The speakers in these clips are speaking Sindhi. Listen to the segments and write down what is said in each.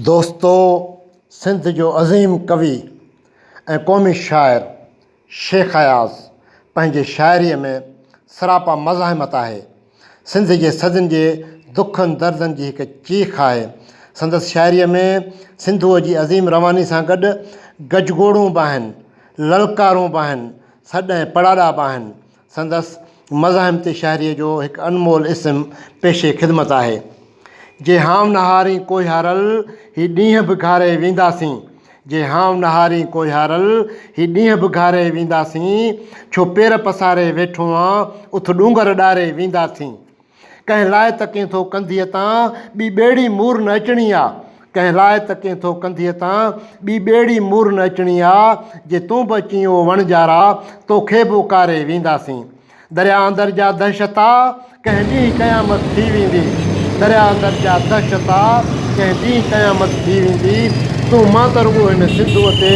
دوستو سنڌ جو عظيم ڪوي ۽ قومي شاعر شيخ اياز پنهنجي شاعريء ۾ سراپا مزاحمت آهي. سنڌ جي صدين جي دکن دردن جي هڪ چيخ آهي. سندس شاعريء ۾ سنڌوء جي عظيم رواني سان گڏ گجگوڙون به آهن، للڪارون به آهن، سڏ ۽ پڙاڏا به آهن. سندس مزاحمتي شاعريء جو هڪ انمول اسم پيش خدمت آهي. جي هانء نهارين ڪوهيارل، هي ڏينهن به گهاري وينداسين، جي هانء نهارين ڪوهيارل، هي ڏينهن به گهاري وينداسين، ڇو پير پساري ويٺو آن، اٿ ڏونگر ڏاري وينداسين. ڪنهن لاء ته ڪنهن ٿو ڪنڌيء تان ٻي ٻيڙي مور نه اچڻي آ، ڪنهن لاء ته ڪنهن ٿو ڪنڌيء تان ٻي ٻيڙي مور نه اچڻي آ، جي تون به اچين او وڻجارا، تو کي به اڪاري وينداسين. درياء اندر جا دهشت آ، ڪنهن ڏينهن قيامت ٿي ويندي، درياء اندر جا دهشت آ، ڪنهن ڏينهن قيامت ٿي ويندي، تون مان ته رڳو هن سنڌوء تي،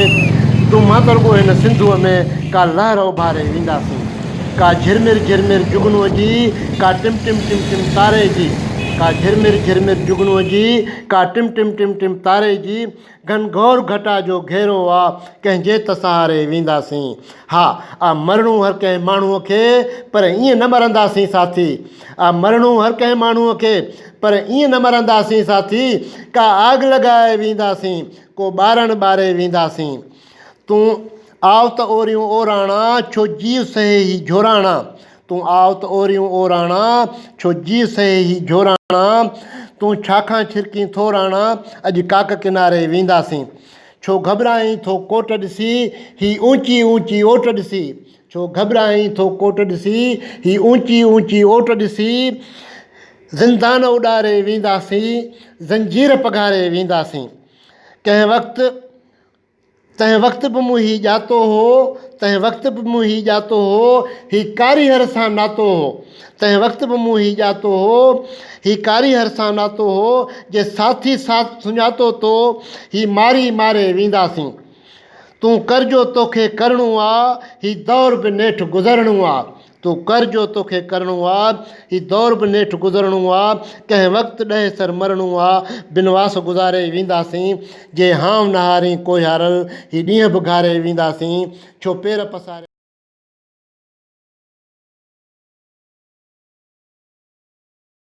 تون مان ته رڳو هن سنڌوء ۾ ڪا لهر اڀاري وينداسين. ڪا جهرمر جهرمر جهڳڻوء جي، ڪا ٽم ٽم ٽم ٽم تاري جي. ڪا جهرمر جهرمر جهڳڻوء جي، ڪا ٽم ٽم ٽم ٽم تاري جي. گهنگهور گهٽا جو گهيرو آ، ڪنهن جيت سهاري وينداسين. ها! آ مرڻو هر ڪنهن ماڻهوء کي، پر ائين نه مرنداسين ساٿي. آ مرڻو هر ڪنهن ماڻهوء کي، پر ائين نه مرنداسين ساٿي. ڪا آڳ لڳائي وينداسين، ڪو ٻارڻ ٻاري وينداسين. تون. آء ته اوريون اوراڻا، ڇو جيء سهي هي جهوراڻا. تون آء ته اوريون اوراڻا، ڇو جيء سهي هي جهوراڻا. تون ڇا کان ڇرڪين ٿوراڻا، اڄ ڪاڪ ڪناري وينداسين. ڇو گهٻرائين ٿو ڪوٽ ڏسي، هي اوچي اوچي اوٽ ڏسي. ڇو گهٻرائين ٿو ڪوٽ ڏسي، هي اوچي اوچي اوٽ ڏسي. زندان اڏاري وينداسين، زنجير پگهاري وينداسين. ڪنهن وقت. تنهن وقت به مون هي ڄاتو هو، تنهن وقت به مون هي ڄاتو هو، هي ڪاري هر سان ناتو هو، تنهن وقت به مون هي ڄاتو هو، هي ڪاري هر سان ناتو هو، جي ساٿي ساٿ سڃاتو تو، هي ماري ماري وينداسين، تون ڪر جو توکي ڪرڻو آ، هي دور به نيٺ گذرڻو آ، تو ڪر جو توکي ڪرڻو آ، هي دور به نيٺ گذرڻو آ، ڪنهن وقت ڏهي سر مرڻو آ، بن واسو گذاري وينداسين، جي هانء نهارين ڪوهيارل، هي ڏينهن به گهاري وينداسين، ڇو پير پساريا.